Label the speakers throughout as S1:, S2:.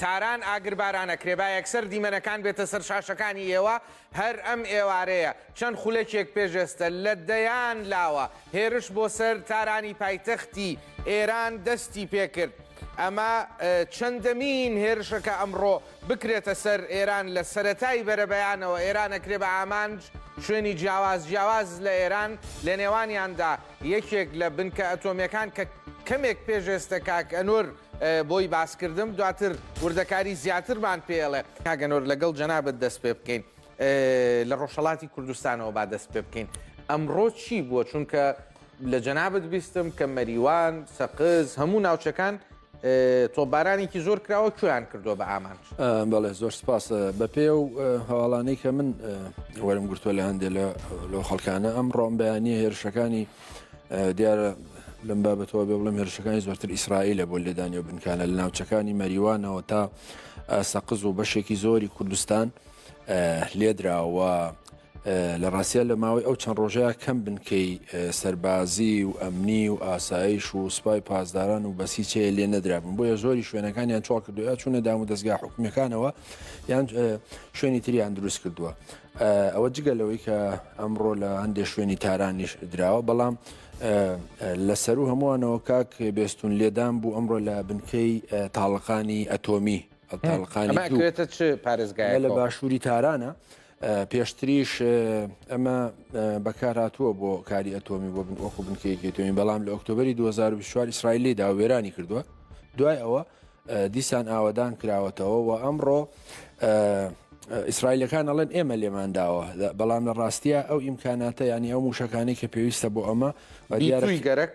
S1: تاران ئاگربارانە کرێ با یەکسەر دیمەنەکان بێتە سەر شاشەکانی ئێوە هەر ئەم ئێوارەیە چەند خولەکێک پێش ئێستە لە دەیان لاوە هێرش بۆ سەر تارانی پایتەختی ئێران دەستی پێکرد ئەمە چەندەمین هێرشەکە ئەمڕۆ بکرێتە سەر ئێران لە سەرەتای بەرەبەیانەوە ئێران ئەکرێ بە ئامانج شوێنی جیاواز جیاواز لە ئێران لە نێوانیاندا یەکێک لە بنکە ئەتۆمیەکان کە کەمێک پێش ئێستە کاک ئەنور بۆی باس کردم دواتر وردەکاری زیاترمان پێ ئەڵێ کاگەنۆر لەگەڵ جەنابەت دەست پێ بکەین لە ڕۆژهڵاتی کوردستانەوە با دەست پێ بکەین ئەمڕۆ چی بووە چونکە لە جەنابەت بیستم کە مەریوان سەقز هەموو ناوچەکان تۆبارانێکی زۆر کراوە کویان کردووە بە ئامانج بەڵێ زۆر سپاس
S2: بە پێ و هەواڵانەی کە من وەرم گرتووە لە هەندێک لە لەو خەڵکانە ئەم ڕۆم بەیانی هێرشەکانی دیارە لەم بابەتەوە بێ بڵم هێرشەکانی زۆرتر ئیسرائیلە بۆ لێدانی و بنکانە لە ناوچەکانی مەریوانەوە تا سەقز و بەشێکی زۆری کوردستان لێدراوە لە ڕاستە لە ماوەی ئەو چەند ڕۆژەیە کەم بنکەی سەربازی و ئەمنی و ئاسایش و سوپای پاسداران و بەسیچەیە لێ نەدرابن بۆیە زۆری شوێنەکانیان چۆڵ کردوە چونە دام و دەستگا حکومەکانەوە یان شوێنی تریان دروست کردووە ئەوە جگە لەوەی کە ئەمڕۆ لە هەندێک شوێنی تارانیش دراوە بەڵام لە سەرو هەمووانەوە کاک بێستون لێدان بوو ئەمڕۆ لە بنکەی تاڵقانی ئەتۆمی ئەتاڵقانیێتە
S1: چ پارێزگای لە باشووری تارانە
S2: پێشتریش ئەمە بەکارهاتووە بۆ کاری ئەتۆمی بۆ بن وەکو بنکەیەکێتۆمی بەڵام لە ئۆکتۆبری 2024 ئیسرائیلی دا وێرانی کردووە دوای ئەوە دیسان ئاوەدان کراوەتەوە و ئەمڕۆ ئیسرائیلەکان ئەڵێن ئێمە لێمان داوە بەڵام لە ڕاستیە ئەو ئیمکاناتە ینی ئەو موشەکانی کە پێویستە بۆ ئەمە دیارەی گەرەک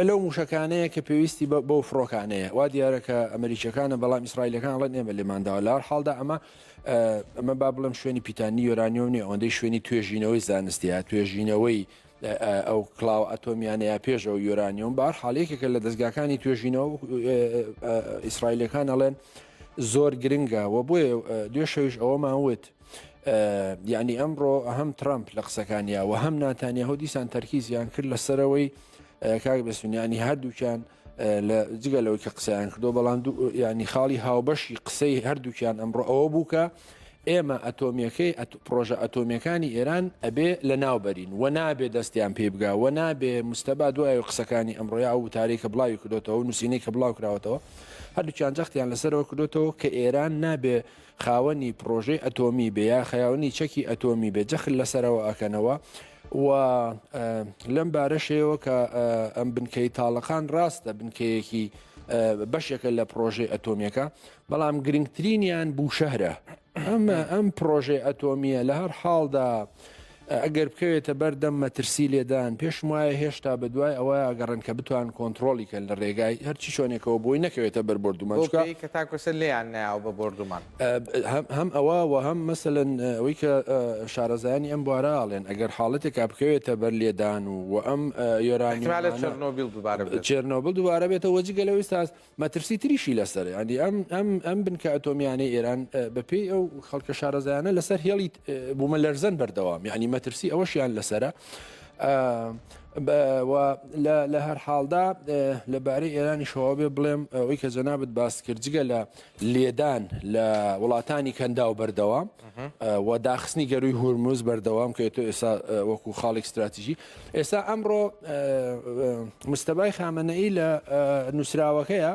S2: لەو موشەکانەیە کە پێویستی بەو فڕۆکانەیە وا دیارەکە ئەمریکیەکانە بەڵام ئیسرائیلەکان ڵێن ئێمە لێمانداوە لار حاڵدا ئەمە ئەمە با بڵم شوێنی پیتانی یۆرانیۆنی ئەوەندەی شوێنی توێژینەوەی زانستیە توێژینەوەی ئەو کڵاوە ئەتۆمیانە یا پێش ئەو یۆرانیۆم بار حالێکێکە لە دەستگاکانی توێژینەوە ئیسرائیلەکان ئەڵێن زۆر گرنگە و بۆیە دوێ شەویش ئەوەمان وت یعنی ئەمڕۆ هەم ترامپ لە قسەکانیەوە هەم ناتانیاهۆ دیسان تەرکیزیان کرد لەسەرەوەی کاک بەسونیانی هەردووکیان لە جگە لەوەی کە قسەیان کردو بەڵام ینی خاڵی هاوبەشی قسەی هەردووکیان ئەمڕۆ ئەوە بوو کە ئێمە ئەتۆمیەکەی پرۆژە ئەتۆمیەکانی ئێران ئەبێ لە ناوبەرین و نابێ دەستیان پێ بگا و نابێ مستەبا دوای قسەکانی ئەمڕۆیا ئەو وتاری کە بڵاوی کردوتەوە نووسینەی کە بڵاو کراوەتەوە هەردووچان جەختیان لەسەرەوە کردوتەوە کە ئێران نابێ خاوەنی پڕۆژەی ئەتۆمی بێ یا خەیاونی چەکی ئەتۆمی بێ جەخل لەسەرەوە ئەکەنەوە و لەم بارەشەوە کە ئەم بنکەی تاڵەکان ڕاستە بنکەیەکی بەشێکە لە پرۆژەی ئەتۆمیەکە بەڵام گرنگترینیان بوو شەهرە ئەمە ئەم پرۆژەی ئەتۆمیە لە هەر حاڵدا ئەگەر بکەوێتە بەر دەم مەترسی لێدان، پێشم وایە هێشتا بە دوای ئەوە ئەگەڕێن کە بتوان کۆنتڕۆڵی کەن لە ڕێگای هەر چی شۆنێکەوە بۆی نەکەوێتە بەر بۆردومان چونکە. بەو پێی کە تاکو ئێستا
S1: لێیان نایەوە بە بۆردومان. هەم
S2: ئەوە و هەم مەسەلەن ئەوەی کە شارەزایانی ئەم بوارە ئەڵێن ئەگەر حاڵەتێکا بکەوێتە بەر لێدان و و ئەم یۆرانیۆمانە. ئیحتیمالە چێرنۆبیڵ دوبارە بێت. چێرنۆبڵ دوبارە بێتەوە جگە لەوەی ئێستا. مەترسی تریشی لەسەرە، یانی ئەم ئەم ئەم بنکە ئەتۆمییانەی ئێران بەپێی ئەو خەڵکە شارەزایانە لەسەر هێڵی بوومەلەرزەن بەردەوام، یانی مەترسی ئەوەشیان لەسەرە. لە هەر حاڵدا لەبارەی ئێرانیشەوە بێ بڵێم ئەوەی کە جەنابەت باس کرد جگە لە لێدان لە وڵاتانی کەندا و بەردەوام و داخستنی گەروی هورمز بەردەوام کە تۆ ئێستا وەکو خاڵێک استراتیژی ئێستا ئەمڕۆ مستەبای خامەنەئی لە نووسراوەکەیە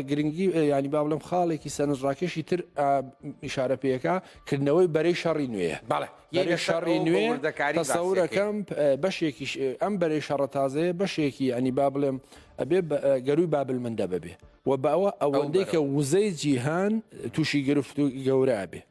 S2: گرنگی ینی با بڵم خاڵێکی سەرنجڕاکێشی تر ئیشارە پێەکە کردنەوەی بەرەی شەڕی نوێ بەڵێ یەک شەڕی نوێ دەکاری سەورەکەم بەشێکی ئەم بەرەی شەڕە تازەیە بەشێکی ینی با بڵێم ئەبێ گەروی بابل من دەبێ و باوە ئەوەندەی کە وزەی جیهان تووشی گرفت و گەورە بێ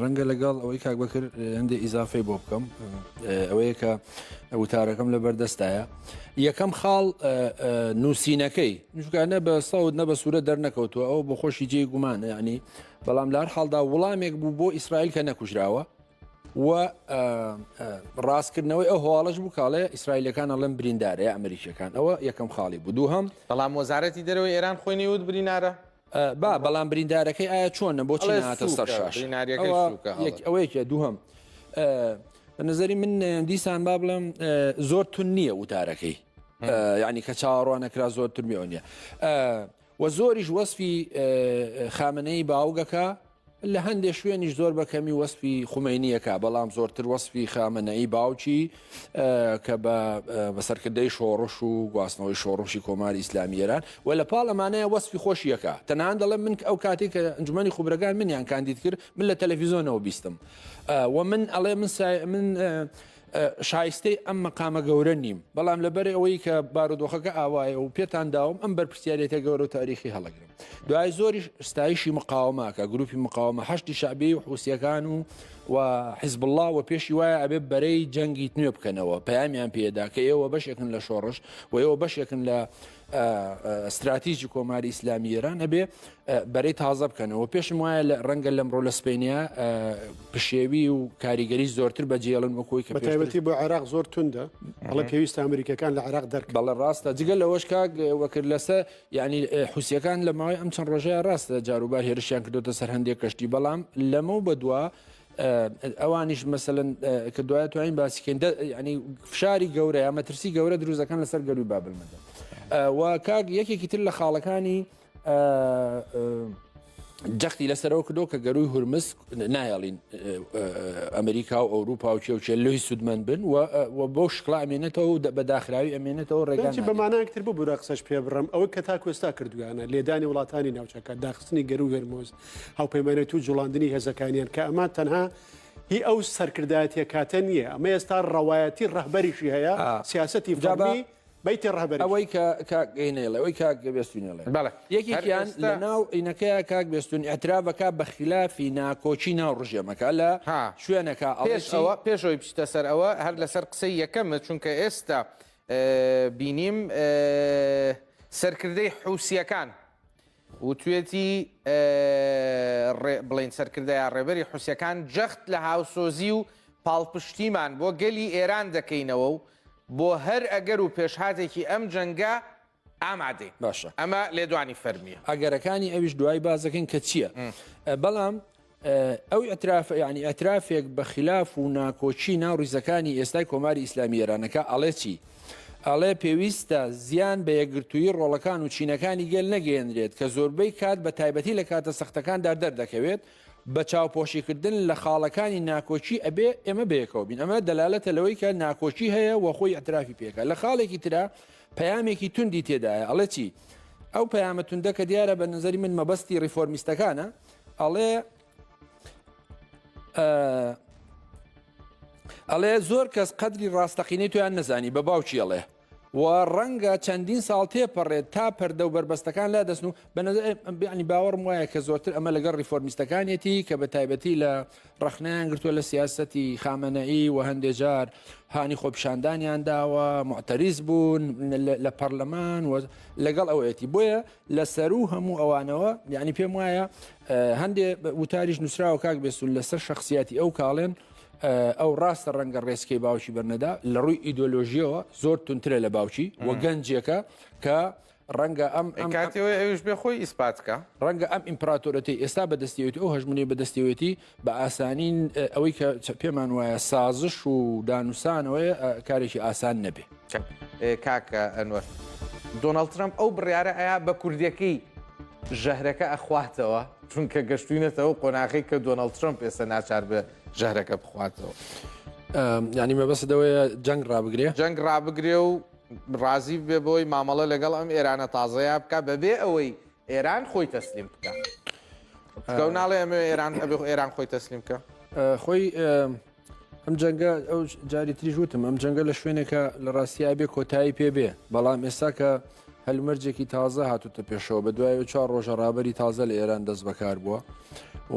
S2: ڕەنگە لەگەڵ ئەوەی کاک بەکر هەندێ ئیزافەی بۆ بکەم ئەوەیە کە وتارەکەم لە بەردەستایە یەکەم خاڵ نووسینەکەی نوشگانە بە ساود نە بە سوورە دەرنەکەوتووە ئەو بۆ خۆشی جێ گومان ینی بەڵام لار حاڵدا وڵامێک بوو بۆ ئیسرائیل کە نەکوژراوە و ڕاستکردنەوەی ئەو هەواڵش بوو کاڵێ ئیسرائیلەکان ئەڵم بریندارەیە ئەمریکیەکان ئەوە یەکەم خاڵی بوو دوو هەم بەڵام وەزارەتی
S1: دەرەوەی ئێران خۆی نەیوت برینارە با بەڵام
S2: بریندارەکەی ئایا چۆنە بۆچی ئەڵێ نەهاتە سەر سووکە شاش بریناریەکەی ئەوە سووکە یەک هەڵێ ئەوەیەکە دووهەم ئە، بە نظری من ئە، دیسان با بڵێم ئە، زۆر تون نییە وتارەکەی ئە، یعنی کە چاوەڕوان نەکرا زۆر ترمی ئەو نییە ئە، و زۆریش وەسفی ئە، خامنەی باوگەکە لە هەندێ شوێنیش زۆر بە کەمی وەسفی خومەینی یەکا بەڵام زۆرتر وەسفی خامەنەئی باوکی کە بە سەرکردەی شۆڕش و گواستنەوەی شۆڕشی کۆماری ئیسلامی ئێران و لە پاڵ ئەمانەیە وەسفی خۆشی یەکا تەنان دەڵێ من ئەو کاتی کە ئەنجومەنی خوبرەکان منیان کاندید کرد من لە تەلەفیزۆنەوە بیستم و من ئەڵێ من سای من شایستەی ئەم مەقامە گەورە نیم بەڵام لەبەر ئەوەی کە بارودۆخەکە ئاوایە و پێتان داوم ئەم بەرپسیارێتە گەورە و تاریخی هەڵەگرم دوای زۆری ستایشی مقاومەکە گروپی مقاومە هەشتی شعبی و حوسەکان و و حیزب الله و پێشی وایە ئەبێ بەرەی جەنگی نوێ بکەنەوە پەیامیان پێدا کە ئێوە بەشێکن لە شۆڕش و ئێوە بەشێکن لە ستراتیژی کۆماری ئیسلامی ئێران ئەبێ بەرەی تازە بکەنەوە پێشم وایە لە ڕەنگە لەم ڕۆ لە سپینیا پشێوی و کاریگەری زۆرتر بەجێڵن وەکۆی کە پێویستی بۆ عێراق زۆر
S3: توندە بەڵە پێویست ئەمریکەکان لە عراق دەرک بەڵە ڕاستە جگە لەوەش
S2: کاک وەکرد لەسە ینی حوسەکان لە ماوەی ئەم چەند ڕۆژەیە ڕاستە جاروبار هێرشیان کردوتە سەر هەندێک کەشتی بەڵام لەمە بەدووە ئەوانیش مەسەن کە دوایە توانین باسیکەین ینی فشاری گەورە یا مەترسی گەورە دروزەکان لەسەر گەروی بابل مەدە و کاک یەکێکی تر لە خاڵەکانی جەختی لەسەرەوە کردو کە گەروی هورمز نایڵین ئەمریکا و ئەوروپا و چێوچێ لوی سوودمەند بن و بۆ شکڵا ئەمێنێتەوە و بە داخراوی ئەمێنێتەوە ڕێگەی بەمانەکتر بۆ بورە قسەش
S3: پێ بڕم ئەوە کە تا کوێستا کردویانە لێدانی وڵاتانی ناوچەکە داخستنی گەرو هەرمۆز هاوپەیمانێتی و جوڵاندنی هێزەکانیان کە ئەمە تەنها هی ئەو سەرکردایەتە کاتە نییە ئەمە ئێستا ڕەوایەتی ڕەهبەریشی هەیە سیاستی فەرمی بیتی ڕهبەر ئەوەی
S2: کەگەینەڵێ ئەوی کاگەبێستینەڵێ یەکێکیان لە ناو عینەکەی کاک بێستون ئەترابەکە بەخلافی ناکۆکی ناو ڕژێمەکە لە شوێنەکە ئەڵێشەوە پێشەوەی
S1: بچتە سەر ئەوە هەر لەسەر قسەی یەکەمە چونکە ئێستا بینیم سەرکردەی حوسیەکان وتوێتی، ڕێ بڵێین سەرکردە یا ڕێبەری حوسیەکان جەخت لە هاوسۆزی و پاڵپشتیمان بۆ گەلی ئێران دەکەینەوە و بۆ هەر ئەگەر و پێشهاتێکی ئەم جەنگە ئامادەین. باشە. ئەمە
S2: لێدوانی
S1: فەرمییە. ئەگەرەکانی ئەویش
S2: دوای باس دەکەین کە چییە. بەڵام. ئەو ئیعترافە یانی ئەترافێک بە خلاف و ناکۆچی ناو ڕیزەکانی ئێستای کۆماری ئیسلامی ئێرانەکە ئەڵێ چی؟ ئەڵێ پێویستە زیان بە یەکگرتووی ڕۆڵەکان و چینەکانی گەل نەگەێنرێت کە زۆربەی کات بە تایبەتی لە کاتە سەختەکاندا دەردەکەوێت بە چاوپۆشیکردن لە خاڵەکانی ناکۆکی ئەبێ ئێمە بەیەکەوە بین ئەمە دەلالەتە لەوەی کە ناکۆکی هەیە وە خۆی ئەترافی پێکە لە خاڵێکی تررا پەیامێکی توندی تێدایە ئەڵێ چی؟ ئەو پەیامە توندەکە دیارە بە نظری من مەبەستی ڕیفۆرمیستەکانە ئەڵێ ئەڵێ زۆر کەس قەدری ڕاستەقینەی تویان نەزانی بە باوکی ئەڵێ و ڕەنگە چەندین ساڵ تێپەڕێت تا پەردە و بەربەستەکان لا دەستن و بەنەزانی باوەڕم وایە کە زۆرتر ئەمە لەگەڵ ریفۆرمیستەکانێتی کە بە تایبەتی لە ڕخنیان گرتووە لە سیاستی خامەنەئی و هەندێک جار هانی خۆپشاندانیان داوە معتەریز بوون لە پەرلەمان و لەگەڵ ئەوەتی بۆیە لە سەروو هەموو ئەوانەوە یعنی پێم وایە هەندێ وتاریش نووسراوە کاک بێسون لەسەر شخصیاتی ئەو کاڵێن ئەو ڕاستە ڕەنگە ڕێسکەی باوکی بەرنەدا لە ڕووی ئیدۆلۆژیەوە زۆر تونترە لە باوکی و گەنجێکە کە ڕەنگە ئەم ئەم کاتەوەی ئەوش بێ
S1: خۆی ئیسپاتکە ڕەنگە ئەم
S2: ئیمپراتۆرەتی ئێستا بەدەستێت ئەو هەژمونی بەدەستێتی بە ئاسانی ئەوەی کە پێمان وایە سازش و دانوسانەوەی کارێکی ئاسان نەبێ کاکە
S1: ئەنوەر دۆناڵد ترمپ ئەو بڕیارە ئەیا بە کوردەکەی ژەهرەکە ئەخواتەوە چونکە گەشتوینەتەوە قۆناغی کە دۆناڵد ترمپ ئێستا ناچار بە ژەهرەکە بخواتەوە
S2: ینی مەبەست دەوەیە جەنگ ڕابگرێ جەنگ ڕابگرێ و
S1: ڕازی بێ بۆی مامەڵە لەگەڵ ئەم ئێرانە تازەیە بکە بەبێ ئەوەی ئێران خۆی تەسلیم بکا گەو ناڵێ ئەمە ئێران ئەبێ ئێران خۆی تەسلیم بکە
S2: خۆی ئەم جەنگە ئەو جاری تریش وتم ئەم جەنگە لە شوێنێکە لە ڕاستی ئابێ کۆتایی پێ بێ بەڵام ئێستا کە هەلومەرجێکی تازە هاتوتە پێشەوە بە دوای و چوار ڕۆژە ڕابری تازە لە ئێران دەست بەکار بووە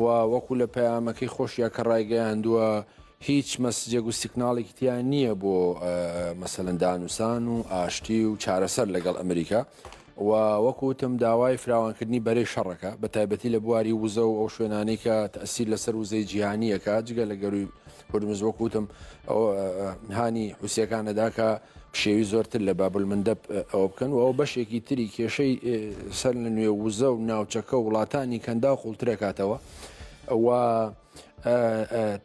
S2: و وەکو لە پەیامەکەی خۆشیە کە ڕایگەیاندووە هیچ مەسجێک و سیکناڵێکی تیان نییە بۆ مەسەندانوسان و ئاشتی و چارەسەر لەگەڵ ئەمریکا و وەک وتم داوای فراوانکردنی بەرەی شەڕەکە بە تایبەتی لە بواری وزە و ئەو شوێنانەی کە تەسیر لەسەر وزەی جیهانیەکە جگە لە گەروی هورمز وەک وتم هانی حوسەکانەدا کە پشێوی زۆرتر لە بابل مندەب ئەوە بکەن و ئەو بەشێکی تری کێشەی سەر لە نوێ وزە و ناوچەکە و وڵاتانی کەندا و قوڵترەکاتەوە و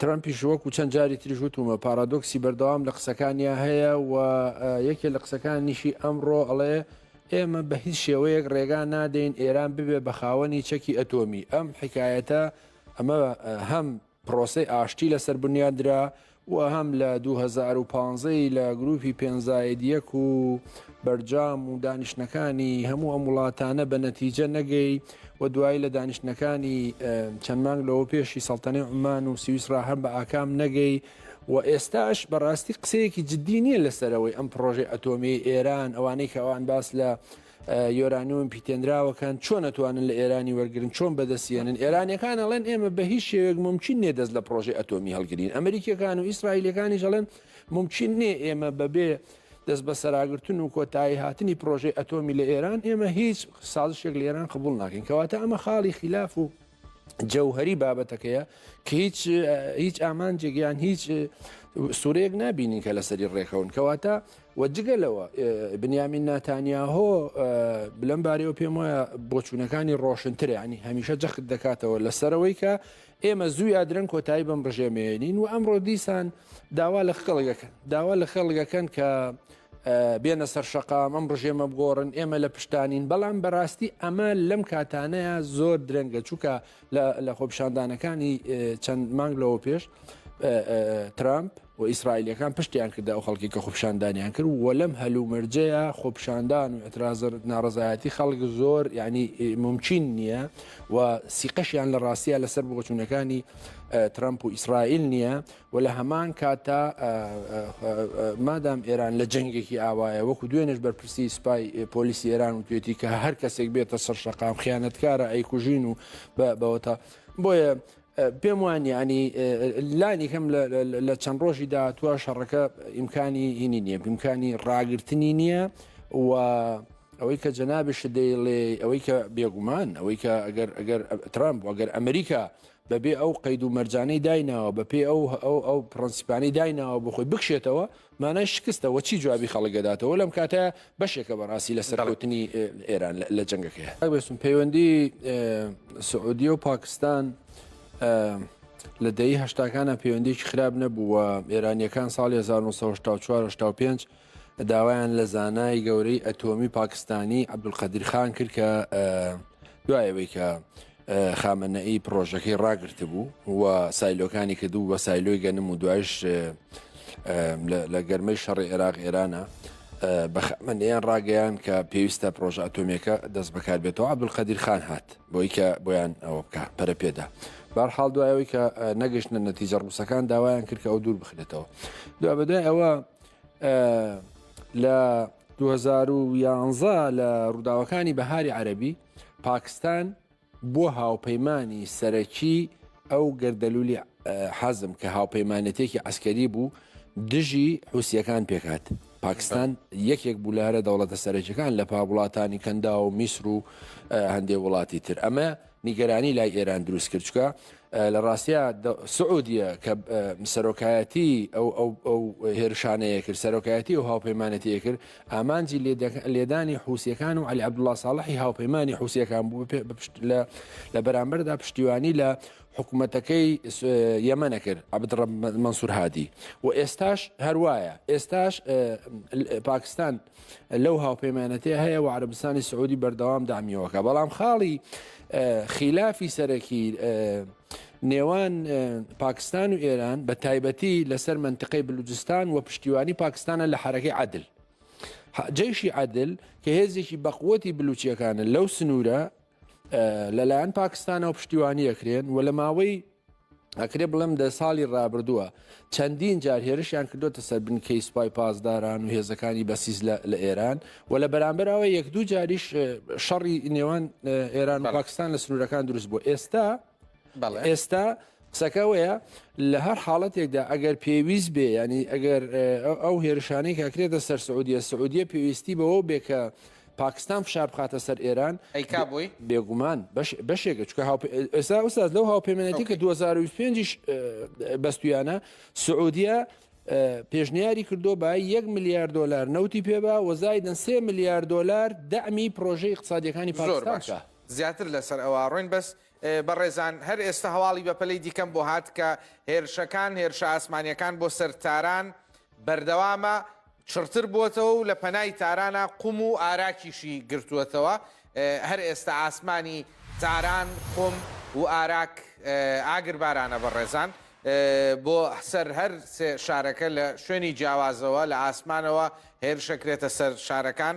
S2: ترامپیش وەکو چەند جاری تریش وتومە پارادۆکسی بەردەوام لە قسەکانیا هەیە و یەکێ لە قسەکان نیشی ئەمڕۆ ئەڵێ ئێمە بە هیچ شێوەیەک ڕێگا نادەین ئێران ببێ بە خاوەنی چەکی ئەتۆمی ئەم حکایەتە ئەمە هەم پرۆسی ئاشتی لەسەر بنیادرا و هەم لە دوو هەزار و پازدە ی لە گروپی پێنج زاید یەک و بەرجام و دانیشتنەکانی هەموو ئەم وڵاتانە بە نەتیجە نەگەی و دوایی لە دانیشتنەکانی چەند مانگ لەوە پێشی سەڵتەنەی عومان و سویسرا هەم بە ئاکام نەگەی و ئێستاش بەڕاستی قسەیەکی جدی نییە لەسەرەوەی ئەم پڕۆژەی ئەتۆمیەی ئێران ئەوانەی کە ئەوان باس لە یۆرانیۆم پیتێنراوەکان چۆن ئەتوانن لە ئێرانی وەرگرن چۆن بەدەست یەنن ئێرانیەکان ئەڵێن ئێمە بە هیچ شێوێک ممکن نیە دەست لە پرۆژی ئەتۆمی هەڵگرین ئەمریکیەکان و ئیسرائیلەکانیش ئەڵێن ممکن نیە ئێمە بەبێ دەست بە سەراگرتن و کۆتایی هاتنی پرۆژەی ئەتۆمی لە ئێران ئێمە هیچ سازشێک لە ئێران قبول ناکەین کەواتە ئەمە خاڵی خلاف و جەوهری بابەتەکەیە کە هیچ هیچ ئامانجێک یان هیچ سوورەیەک نبینین کە لەسەری ڕێکەون کەواتە وەجگە لەوە بنیامین ناتانیاهۆ بلەم بارەوە پێم وایە بۆچوونەکانی ڕۆشنترە ینی هەمیشە جەخت دەکاتەوە لەسەرەوەی کە ئێمە زووی ئادرەن کۆتایی بەم ڕژێمێنین و ئەمڕۆ دیسان داوا لە خەڵگەکە داوا لە خەڵگەکەن کە بێنە سەر شەقام ئەم ڕژێمە بگۆڕن ئێمە لە پشتانین بەڵام بەڕاستی ئەمە لەم کاتانەیە زۆر درەنگە چووکە لە خۆپشاندانەکانی چەند مانگ لەوە پێش ترامپ و ئیسرائیلەکان پشتیان کردە ئەو خەڵکی کە خۆپشاندانیان کرد و لەم هەلومەرجەیە خۆپشاندان و ئەترازر ناڕزایەتی خەڵک زۆر ینی ممچین نییە و سیقەشیان لە ڕاستە لەسەر بۆچوونەکانی ترامپ و ئیسرائیل نییە و لە هەمان کاتدا مادام ئێران لە جەنگێکی ئاوایە وەکو دوێنێش بەرپرسی سوپای پۆلیسی ئێران و توێتی کە هەر کەسێک بێتە سەر شەقام خیانەتکارە ئەیکوژین و بەوەتا بۆیە پێم وان ینی لانی کەم لە چەند ڕۆژی داهاتوە شەڕەکە ئیمکانی هینی نییە ئیمکانی ڕاگررتنی نییە و ئەوەی کە جەنابش دەیڵێ ئەوەی کە بێگومان ئەوەی کە ئەگەر ئەگەر ترامپ ئەگەر ئەمریکا بەبێ ئەو قەید و مەرجانەی دایناوە بەپێی ئەو ئەو ئەو پرەنسیپانەی دایناوە بۆ خۆی بکشێتەوە مانای شکستە وە چی جوابی خەڵک دەداتەوە لەم کاتە بەشێکە بەڕاستی لە سەرکەوتنی ئێران لە جەنگەکەی ئەگوێستم پەیوەندی سعودیە و پاکستان لە دەی هەشتاکانە پەیوەندێکی خراپ نەبووە ئێرانیەکان ساڵی 1940 1970 پێنج داوایان لە زانای گەورەی ئەتۆمی پاکستانی عبدولقەدیر خان کرد کە دوایەوەی کە خامەنەئی پرۆژەکەی ڕاگررت بوو و سایلۆکانی کردو بە سایلۆی گەنم و دوایش لە گەرمەی شەڕی عێراق ئێرانە بە خامەنەیان ڕاگەیان کە پێویستە پرۆژە ئەتۆمیەکە دەست بەکار بێتەوە عبدولقەدیر خان هات بۆی کە بۆیان ئەوە بکە پەرە پێدا بار حاڵ دوایەوەی کە نەگەشتە نەتیجە ڕووسەکان داوایان کرد کە ئەو دوور بخرێتەوە دو بەدای ئەوە لە 2011 لە ڕووداوەکانی بەهاری عەربی پاکستان بۆ هاوپەیمانی سەرەکی ئەو گەردەلولی حەزم کە هاوپەیمانەتێکی ئەسکەری بوو دژی حوسیەکان پێکات پاکستان یەکێک بوو لە هەرە دەوڵەتە سەرەکیەکان لە پاوڵاتانی کەندا و میسر و هەندێک وڵاتی تر ئەمە نیگەرانی لای ئێران دروست کرد چکە لە ڕاستە سعودیە کە سەرۆکایەتی ئەو هێرشانەیە کرد سەرۆکایەتی و هاوپەیمانەتی کرد ئامانجی لێدانی حوسەکان و علی عبدله ساڵحی هاوپەیمانی حوسەکان بوو لە بەرامبەردا پشتیوانی لە حکوومەتەکەی یەمەە کرد عبد منسوور هادی و ئێستاش هەروایە ئێستاش پاکستان لەو هاوپەیمانەتێ هەیە و عربستانی سعودی بەردەوام دامیەوەکە بەڵام خاڵی خیلافی سەرەکی نێوان پاکستان و ئێران بە تایبەتی لەسەر منتقەی بلوجستان و پشتیوانی پاکستانە لە حرەکەی عادل جەیشی عادل کە هێزێکی بەقوتی بلوچیەکانە لەو سنوورە لەلایەن پاکستانەوە پشتیوانی ئەکرێن و لە ماوەی ئەکرێ بڵێم دە ساڵی ڕابردووە چەندین جار هێرشیان کردوتە سەر بنکەی سوپای پاسداران و هێزەکانی بەسیز لە ئێران و لە بەرامبەرەوە یەک دوو جاریش شەڕی نێوان ئێران و پاکستان لە سنوورەکان دروست بوو ئێستا ئێستا قسەکەوەیە لە هەر حاڵەتێکدا ئەگەر پێویست بێ ینی ئەگەر ئەو هێرشانەی کاکرێتە سەر سعودیە سعودیە پێویستی بەوە بێ کە پاکستان فشار بخاتە سەر ئێران ئەیکا بووی
S1: بێگومان
S2: بەشێکە چکە ئێستا ئوساز لەو هاوپەیمانەتی کە 2025 بەستویانە سعودیە پێشنیاری کردو بە یەک میلیارد دلار نەوتی پێبا وەزای دەن سێ میلیارد دلار دەمی پرۆژەی اقتصادیەکانی پاکستان. زیاتر لەسەر
S1: ئەوە ڕۆین بەس بەڕێزان هەر ئێستا هەواڵی بەپەلەی دیکەم بۆ هات کە هێرشەکان هێرشە ئاسمانیەکان بۆ سەر تاران بەردەوامە چڕتر بووەتەوە و لە پەنای تارانە قوم و ئاراکیشی گرتووەتەوە هەر ئێستا ئاسمانی تاران قوم و ئاراک ئاگر بارانە بەڕێزان بۆ سەر هەر شارەکە لە شوێنی جیاوازەوە لە ئاسمانەوە هێرشەکرێتە سەر شارەکان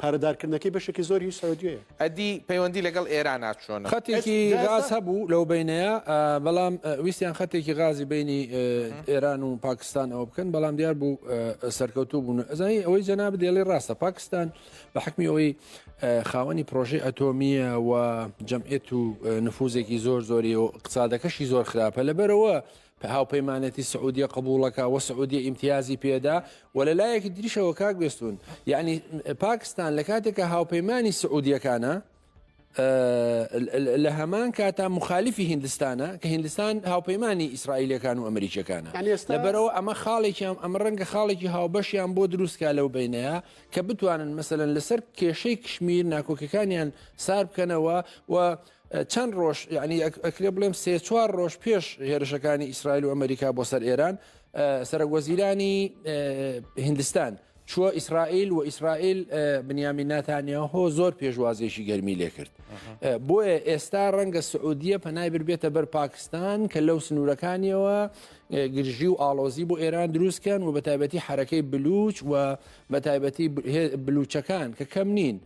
S3: پارەدارکردنەکەی بەشێکی زۆری هی سعودیەیە. ئەدی پەیوەندی
S1: لەگەڵ ئێرانا چۆنە؟ خەتێکی غاز
S2: هەبوو لەو بەینەیە بەڵام ویستیان خەتێکی غازی بینی ئێران و پاکستان ئەوە بکەن بەڵام دیار بوو سەرکەوتوو بوون ئەزانی ئەوەی جەناب دێڵی ڕاستە پاکستان بە حکمی ئەوەی خاوەنی پرۆژی ئەتۆمیە و جەمعێت و نفوزێکی زۆر زۆری و قسادەکەشی زۆر خراپە لەبەرەوە هاوپەیمانێتی سعودیە قبوڵەکە و سعودیە ئیمتیازی پێدا و لە لایەکی دریشەوە کاک بێستون یعنی پاکستان لە کاتێکە هاوپەیمانی سعودیەکانە لە هەمان کاتا مخالیفی هندستانە کە هندستان هاوپەیمانی ئیسرائیلەکان و ئەمریکیەکانە لەبەرەوە ئەمە خاڵێکیان ئەمە ڕەنگە خاڵێکی هاوبەشیان بۆ دروستکە لەو بینەیە کە بتوانن مەسەن لەسەر کێشەی کشمیر ناکۆکەکانیان سار بکەنەوە و چەند ڕۆژ یعنی ئەکرێ بڵێم سێ چوار ڕۆژ پێش هێرشەکانی ئیسرائیل و ئەمریکا بۆ سەر ئێران سەرک وەزیرانی هندستان چووە ئیسرائیل و ئیسرائیل بنیامی ناتانیا هۆ زۆر پێشوازێکی گەرمی لێ کرد بۆیە ئێستا ڕەنگە سعودیە پەنای بربێتە بەر پاکستان کە لەو سنوورەکانیەوە گرژی و ئاڵۆزی بۆ ئێران دروستکەن و بە تایبەتی حرەکەی بلوچ و بە تایبەتی بلوچەکان کە کەم نین.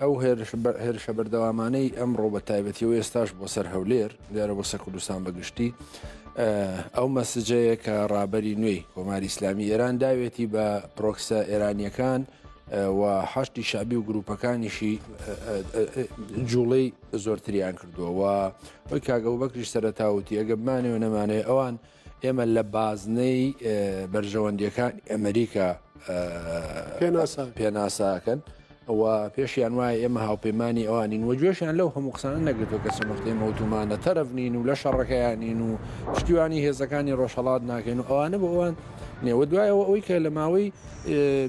S2: ئەو هێرشە بەردەوامانەی ئەمڕۆ بە تایبەتی و ئێستاش بۆ سەر هەولێر دیارە بۆ سەر کوردستان بەگشتی ئەو مەسجەیە کە ڕابەری نوێی کۆماری ئیسلامی ئێران داوێتی بە پرۆکسە ئێرانیەکان و حشتی شابی و گروپەکانیشی جوڵەی زۆرتریان کردووە و ئەوی کاگەڵ بەکریش سەرتاوتی ئەگە بمانێ و نەمانێ ئەوان ئێمە لە بازنەی بەرژەوەندیەکانی ئەمریکا پێناساکەن و پێشیان وایە ئێمە هاوپەیمانانی ئەوانین و گوێشیان لەو هەموو قسانە نەگرتو کە سەمەختەی مەوتومانە تەرەفنین و لە شەڕەکەیانین و پشتیوانی هێزەکانی ڕۆژهڵات ناکەن و ئەوانە بۆ ئەوان نێوە دوایەوە ئەوی کە لە ماوەی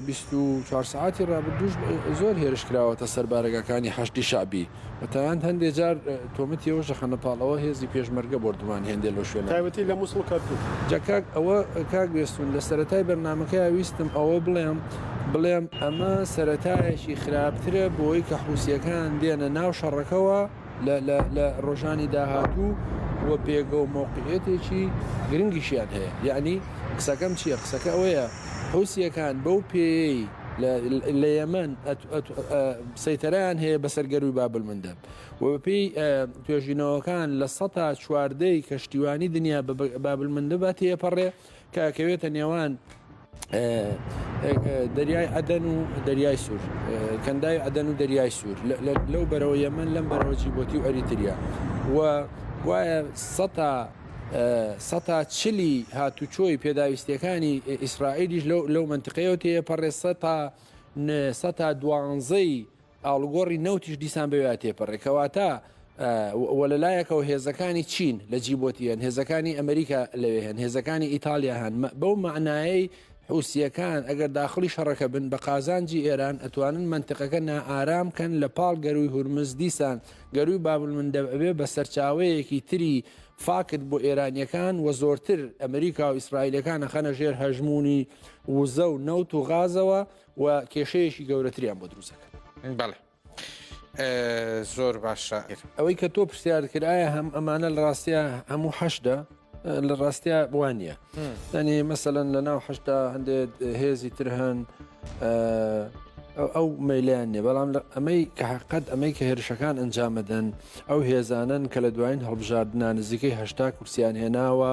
S2: بیست و چوار سەعاتی ڕابردووش زۆر هێرش کراوەتە سەر بارەگاکانی حەشدی شەعبی بە تایان هەندێ جار تۆمەتی ئەوەش دەخەنە پاڵەوە هێزی پێشمەرگە بۆردومان هێندێ لەو شوێنە تایبەتی لە مووسڵ کەرکووک
S3: جا کاک ئەوە
S2: کاک بێستوون لە سەرەتای بەرنامەکەیا ویستم ئەوە بڵێم بڵێم ئەمە سەرەتایەکی خراپترە بۆی کە حووسییەکان دێنە ناو شەڕەکەوە لە ڕۆژانی داهاتوو و پێگە و مەوقعیەتێکی گرنگیشیان هەیە یەعنی قسەکەم چییە قسەکە ئەوەیە حوسیەکان بەو پێیەی لە یەمەن سەیتەرەیان هەیە بەسەر گەروی بابلمندەب و بەپێی توێژینەوەکان لە سەتا چواردەی کەشتیوانی دنیا بابلمندەبات تێپەڕێ کە ئەکەوێتە نێوان دەریای عدن و دەریای سوور کەندای عدن و دەریای سوور لەو بەرەوە یەمن لەم بەرەوە جیبۆتی و ئەریتریا و گوایە سەتا سەتا چلی هاتوچۆی پێداویستەکانی ئیسرائیلیش لەو منتقەیە تێپەڕێ سەتا سەتا دوانزەی ئاڵوگۆڕی نەوتیش دیسان بەوێا تێپەڕێ کەواتە و لەلایەکەوە هێزەکانی چین لە جیبۆتی هەن هێزەکانی ئەمریکا لەوێ هەن هێزەکانی ئیتالیا هەن بەو معنایەی حوسیەکان ئەگەر داخلی شەڕەکە بن بە قازانجی ئێران ئەتوانن منتقەکە نائارام کەن لە پاڵ گەروی هورمز دیسان گەروی بابل من دەبێ بە سەرچاوەیەکی تری فاکت بۆ ئێرانیەکان و زۆرتر ئەمریکا و ئیسرائیلەکانە خەنە ژێر هەژمونی وزە و نەوت و غازەوە و کێشەیەکی گەورەتریان بۆ دروست دەکەن. بەڵێ
S1: زۆر باشە. ئەوەی کە تۆ
S2: پرسیارت کرد ئایا هەم ئەمانە لە ڕاستە هەموو حەشدا لە ڕاستە وانە دەنێ مەسەەن لە ناو حشتا هەندێک هێزی تر هەن ئەو مەلیان نیە بەڵام ئەمەی کە حقت ئەمەی کە هێرشەکان ئەنجامەدەن ئەو هێزانن کە لە دوایین هەڵبژاردنا نزیکەی هشتا کورسیان هێناوە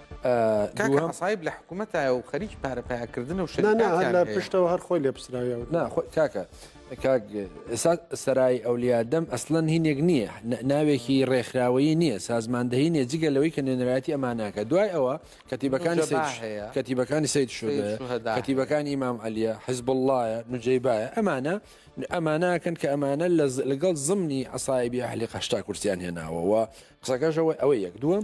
S2: کاکە
S1: عەسایب لە حکوومەتایە و خەریکی پارە پەیاکردنە و شەریکاتیان هەیە. پشتەوە
S3: هەر خۆی لێ پسراوی و. نا خۆ کاکە
S2: کاک ئێستا سەرای ئەولیا دەم ئەسلەن هینێک نییە ناوێکی ڕێکخراوەیی نییە سازماندەهی نیە جگە لەوەی کە نوێنەرایەتی ئەمانەکە دوای ئەوە کەتیبەکانی سێ هەیە کەتیبەکانی سید شدە کەتیبەکانی مام عەلیە حزب اللهە نجەیبایە ئەمانە ئەمانەکەن کە ئەمانە لەگەڵ زمنی عسایبی ئەهلی قەشتا کورسیان هێناوەوە قسەکەشەوەی ئەوەی یەک دووەم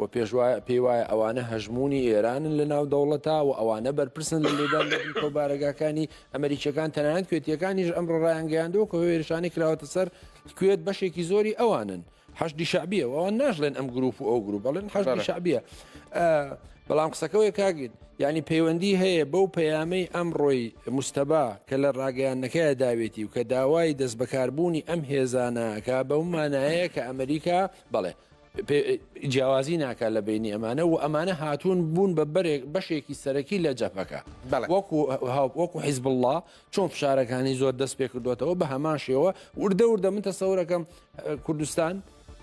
S2: و پێشوایە پێی وایە ئەوانە هەژموونی ئێرانن لە ناو دەوڵەتا و ئەوانە بەرپرسن لە لێدان لە بنکە و بارەگاکانی ئەمریکیەکان تەنانەت کوێتیەکانیش ئەمڕۆ ڕایانگەیاندووە کە هێرشانەی کراوەتە سەر کوێت بەشێکی زۆری ئەوانن حەشدی شعبیە و ئەوان ناشڵێن ئەم گروپ و ئەو گروپ بەڵێن حەشدی شعبیە بەڵام قسەکەوەی کاگین ینی پەیوەندی هەیە بەو پەیامەی ئەم ڕۆی مستەبا کە لە ڕاگەیانەکەی داوێتی و کە داوای دەست بەکاربوونی ئەم هێزانەکە بەو مانایەیە کە ئەمریکا بەڵێ جیاوازی ناکات لە بینی ئەمانە و ئەمانە هاتوون بوون بە بەرێک بەشێکی سەرەکی لە جەپەکە وەکو وەکو حیزب الله چۆن فشارەکانی زۆر دەست پێ کردوێتەوە بە هەمان شێوە وردە وردە من تەسەورەکەم کوردستان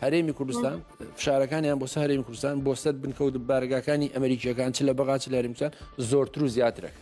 S2: هەرێمی کوردستان فشارەکانیان بۆ سەرێمی کوردستان بۆ سەر بنکەوت بارگاکانی ئەمریکیەکان چ لە بەغا چ لە هەرمسان زۆرتر و زیاترەکە